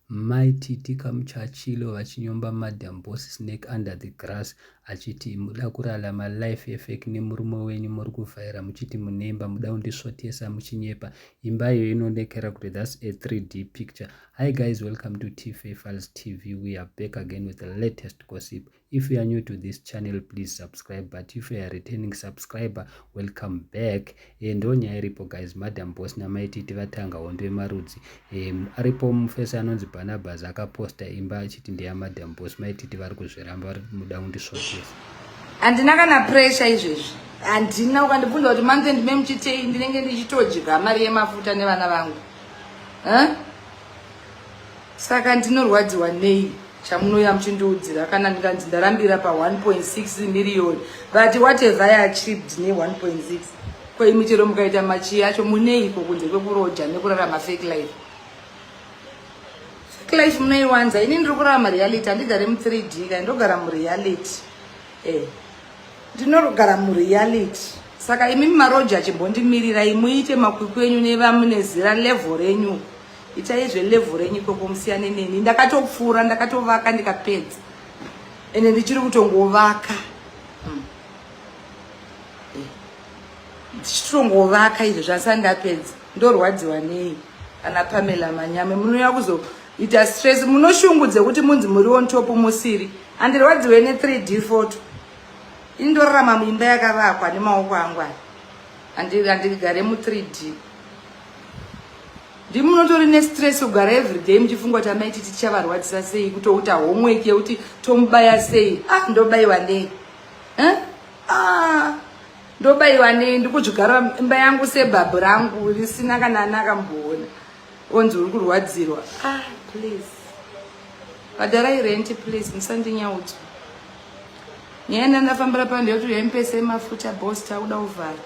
Mai Titi Kamuchachilo vachinyomba Madam Boss Snake under the grass achiti muda kurarama life yefake nemurume wenyu muri kuvhaira muchiti munemba muda kundisvotesa muchinyepa imba iyo inonekera kuti thats a 3d picture hi guys welcome to tfafals tv we are back again with the latest gossip If you are new to this channel, please subscribe. But if you are a returning subscriber, welcome back. E, ndo nyaya iripo guys, madam boss namai titi vatanga hondo yemarudzi. E, aripo mufesi anonzi Barnabas akaposta imba achiti ndeya madam boss. Mai titi vari kuzviramba, vari muda kundisvotesa. Handina kana pressure izvezvi. Handina ukandibvunza kuti month end me muchitei ndinenge ndichitodya mari yemafuta nevana vangu. Huh? saka ndinorwadziwa nei chamunouya muchindiudzira kana ndikanzi ndarambira pa 1.6 miriyoni vati what have i achieved ne 1.6 ko imi chero mukaita machiyi acho muneiko kunze kwekuroja nekurarama fake life fake life munoiwanza ini ndiri kurarama reality handigare mu 3 d kai ndogara mureality eh ndinogara mureality saka imi maroja achimbondimirira imuite makwikwi enyu nevamune zira level renyu itai zvelevu renyu ikoko musiyane neni ndakatopfuura ndakatovaka ndikapedza ende ndichiri kutongovaka hmm. eh. ndichitongovaka izvo zvasa ndapedza ndorwadziwa nei ana pamela manyame munouya kuzoita stress munoshungu dzekuti munzi muri on top musiri andirwadziwe ne 3 d foto indorarama muimba yakavakwa nemaoko angwani andigare mu 3 d ndimi munotori nestress kugara everyday muchifunga kuti amai titi tichavarwadzisa sei kutouta homework yekuti tomubaya sei ah ndobaiwa nei eh? ah ndobaiwa nei ndikudzvigara imba yangu sebhabhu rangu risina kana ana akamboona onzi uri kurwadzirwa ah please bhadharai renti please musandinyaudzo nyaya yandandafambira pano ndeyekuti yaimupesei mafuta bos takuda kuvhara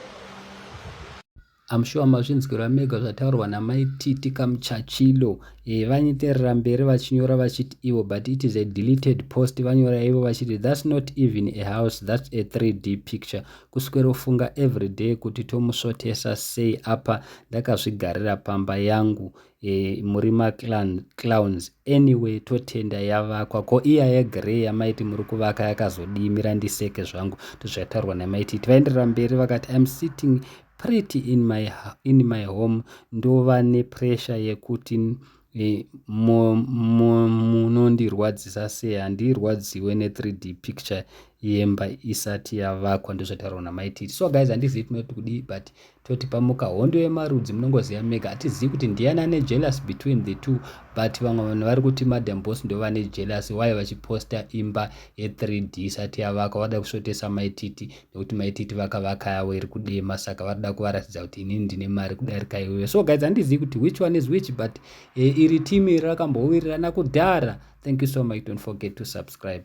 I'm sure mazvinzwira mega zvataurwa namai Titi Kamuchachilo eh, vanyeterera mberi vachinyora vachiti ivo but it is a deleted post vanyora ivo vachiti that's not even a house that's a 3D picture kuswerofunga everyday kuti tomusvotesa sei apa ndakazvigarira pamba yangu e, muri maclowns anyway totenda yavakwa ko iya yegrey yamaiti muri kuvaka yakazodii mira ndiseke zvangu ndozvataurwa namaiti iti vaenderera mberi vakati im sitting pretty in my, in my home ndova nepressure yekuti e, munondirwadzisa sei handirwadziwe ne3 d picture yemba isati yavakwa ndozvataurwa namaiti iti so guys handizivi tinoiti kudii but toti pamuka hondo yemarudzi munongoziva mega hatizivi kuti ndiyani ane jealous between the two but vamwe vanhu vari kuti madam boss ndo vane jealous waye vachiposta imba ye3d isati yavaka vada kusvotesa maititi nekuti maititi vakavaka yavo iri kudema saka vari da kuvaratidza kuti inini ndine mari kudarika iweyo so guys handizivi kuti which one is which but e, iri team iri rakambowirirana kudhara thank you so much don't forget to subscribe